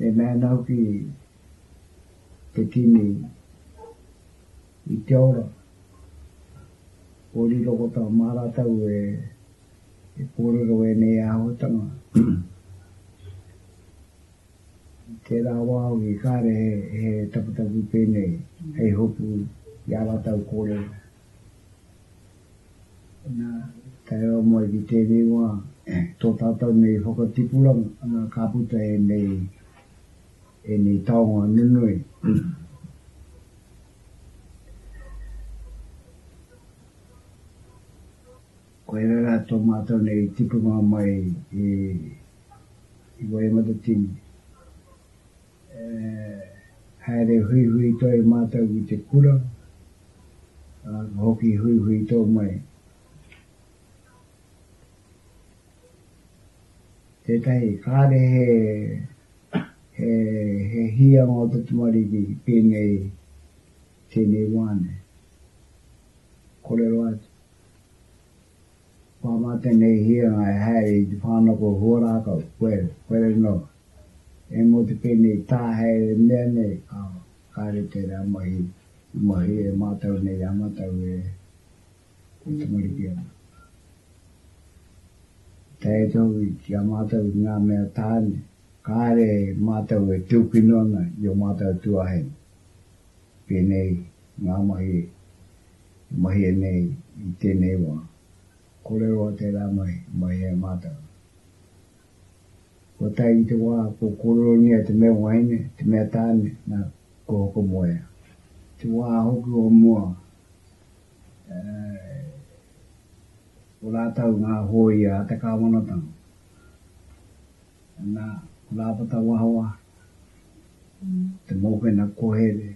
E mēnā hoki te kimi i te ora o riro ko tā mā rātou e kōrero ēnei āhuatanga. I tērā wā hoki kāre he taputapu pēnei hei hopu i ā rātou kōrero. Nā, tae rawa mai ki tēnei wā, tō tātou nei whakatipuranga ka puta ēnei, ēnei taonga nunui. Koirā rā tō mātou nei tipuranga mai i Waikato-Tini. E haere huihui toi mātou ki te kura, ā, ka hoki huihui tō mai. Tētahi, kāre he, he, he hīanga o te tamariki pēnei i tēnei wā nei. Kōrero atu. Kua mā tēnei hīanga e haere i te whānako huarākau, where, where nō. E mō te pēnei tāhaere mea nei, ā, kāre tērā mahi i mahue e mātau nei ā mātau e tamariki ana. I tae atu hoki ki a mātau i ngā mea tāne, kāre mātau e tūkino ana i ō mātau tuāhine. Pēnei ngā mahi e. e mahia nei i tēnei wā, kōrero a te rāngai, mai hea mātanga. Kua tae ki te wā, kua kōreronia te mea waeine, te mea tāne, nā, kua whakamoea. Te wā hoki o mua, e, ko rātou ngā hōia a te kāwanatanga. Nā, ko Rāpata Wahawa, te mokena kohere,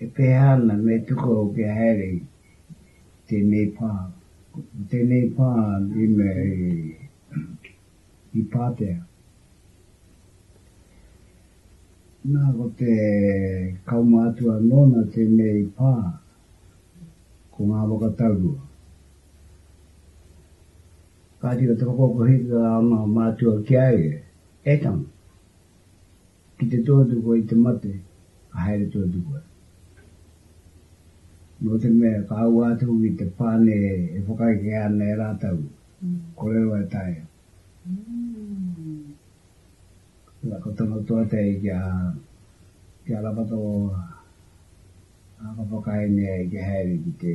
E pēhā ana me tuku au kia haere i tēnei pā? Ko tēnei pā i mea i pātea. Nā, ko te kaumātua nōna tēnei pā, ko ngā whakataurua. Kāti, ko te whakakokohia o ngā mātua ki a ia, e tama. Ki te tuatokoa i te mate, ka haere tuatokoa. Nō te mea, ka ua atu ki te pane e whakaekea ana e rātou, Korero e taea. Ina, ka tono toa te ai ki a, ki a Ramato, ā, ka whakaenea ai kia haere ki te.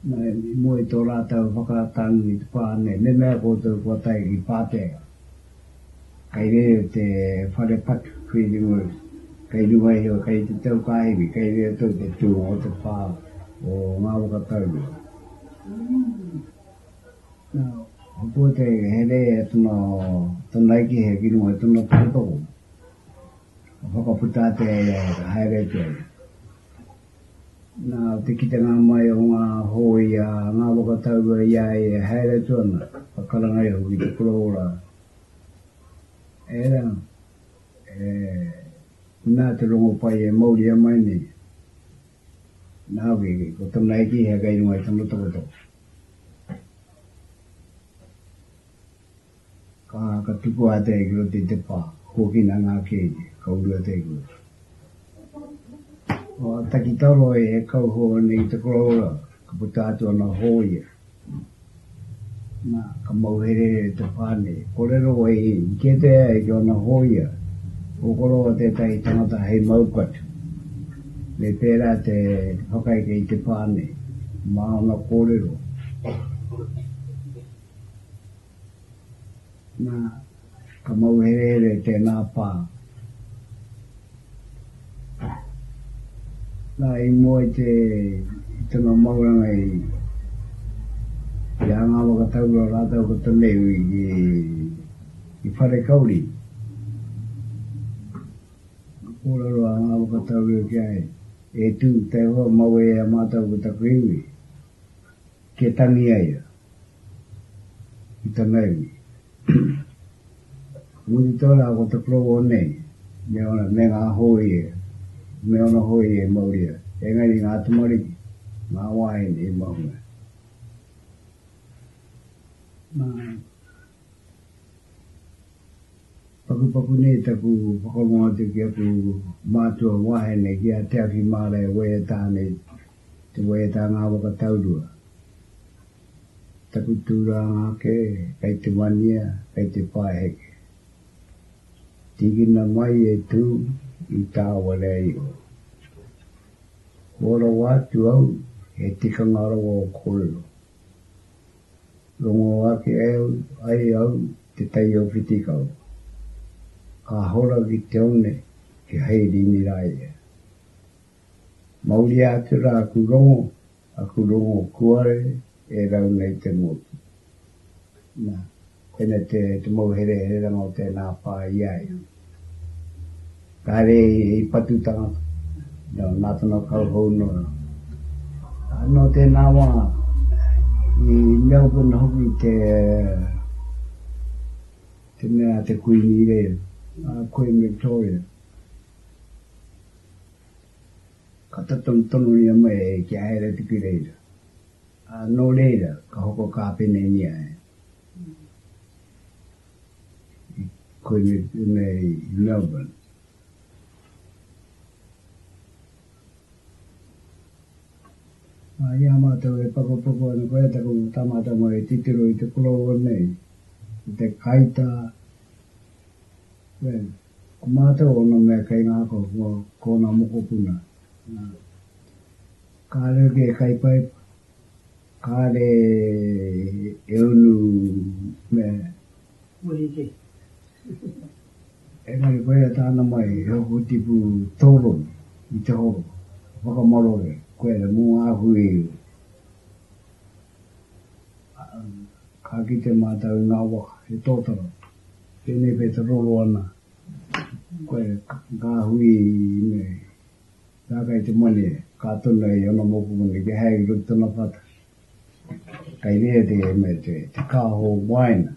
I mua i tō rātou whakatau i te pā nei, me mea koutou kua tae ki Pātea, kei reira te whare patu, feeding works, kei runga iho, kei te tau ka iwi, kei reira tau te tūnga o te pā o ngā waka taurua. Nā, hopua te here e tana, tana eke hea ki runga i tana tokotoko, ka whakaputa atu e ia e haere atu ai. Nā te kitenga mai o ngā hōia, ngā whakataurua i a ia e haere atu ana, ka karanga iho ki te koroora, Ērā, e, nā te rongo pai e mauria mai nei. Nā hoki, ko tōna eki he kei runga i tōna tokotoko. Ka tukua a Te Kura te te pa, huakina nga kene, ka uru a Te Kura. Ka taki talo e he kauho nei i te koroura, ka puta atu ana hoia. Na, ka mauhere te pa nei, korero e i, i kete ai ki ona hoia, ko koroua tetahi tangata hei mauku atu. Me pera te whakaeke i te pa nei, ma ona korero. Na, ka mauherehere tēnā pā. Na, i mua i te, i tana mauranga i, i a ngā whakataurua rātou ko tenei hui ki, ki Wharekauri, ka kōrero a ngā whakataurua ki a ia, E tū, Taihoa, mau e a mātou ko taku iwi, kia tangi ai a. ki tana iwi. Ka mutu tōna ko te provo nei, me ōna, me ngā hōia, me ōna hōia i mauria, engari ngā tamariki, ngā wāhine i mahue. Nā, pakupaku nei taku whakarongo atu ki aku mātua wāhine, ki a Te Awhi Mārae Waiata nei, Te Waiatanga Whakataurua Ki taku tūranga ake kei te wania, kei te whaiheke Tīkina mai e tū i tāua rea iho Kua rawa atu au he tikanga rawa o kōrero Rongo ake ai au te tai o Whitikau Ka hora ki te one kia hei rīni rā ia Mauria atu ra aku rongo, aku rongo kuare e rau nei te motu. Na, koinei te mauherehereranga o tēnā pā i a ia. Ka haere i patu tangata, nō Nātana Kauhou nō rā. Nō tēnā wā, i Melbourne hoki te mea a te Kuini i reira, a Queen Victoria. Ka tatau tonuria mai e kia haere atu ki reira, ā, nō reira ka hoko kāpenenia e i koinei pēnei i Melbourne. Ā, i a mātou e pakupaku ana koia taku tamatama e titiro i te koroua nei, i te kaitā, Wren, Ko mātou ōna mea kei ngākau ko kōna mokopuna. Wren, Kāre hoki e kaipaipa, kāre e unu mea e. Wren, Engari koia tāna mai he hoko tipu tōronu i te horo, ka whakamarore koe mō ngā hui. Ka kite mātou i ngā waka he tōtara, pēnei pea te roro ana koe ngā hui me ngā kai te moni ka tuna i ōna mokopuna kia haere ki roto i tōna whata. Kai reira te mea te kāho wāina,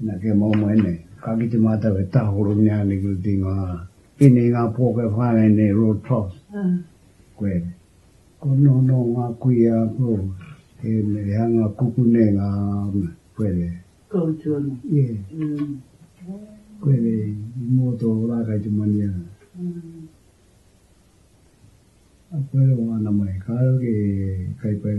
nā kia mau mai nei. Ka kite mātou he tāhoro mea nei ki roto i ngā, pēnei i ngā pō kei whāngai nei, Royal Trout, koe. Ono no nga kuia ko e me hanga kukune nga kuere. Koutu ano. Ye. Kuere i mo to ra kai te mania. Kuere o ana mai ka ke kai pai.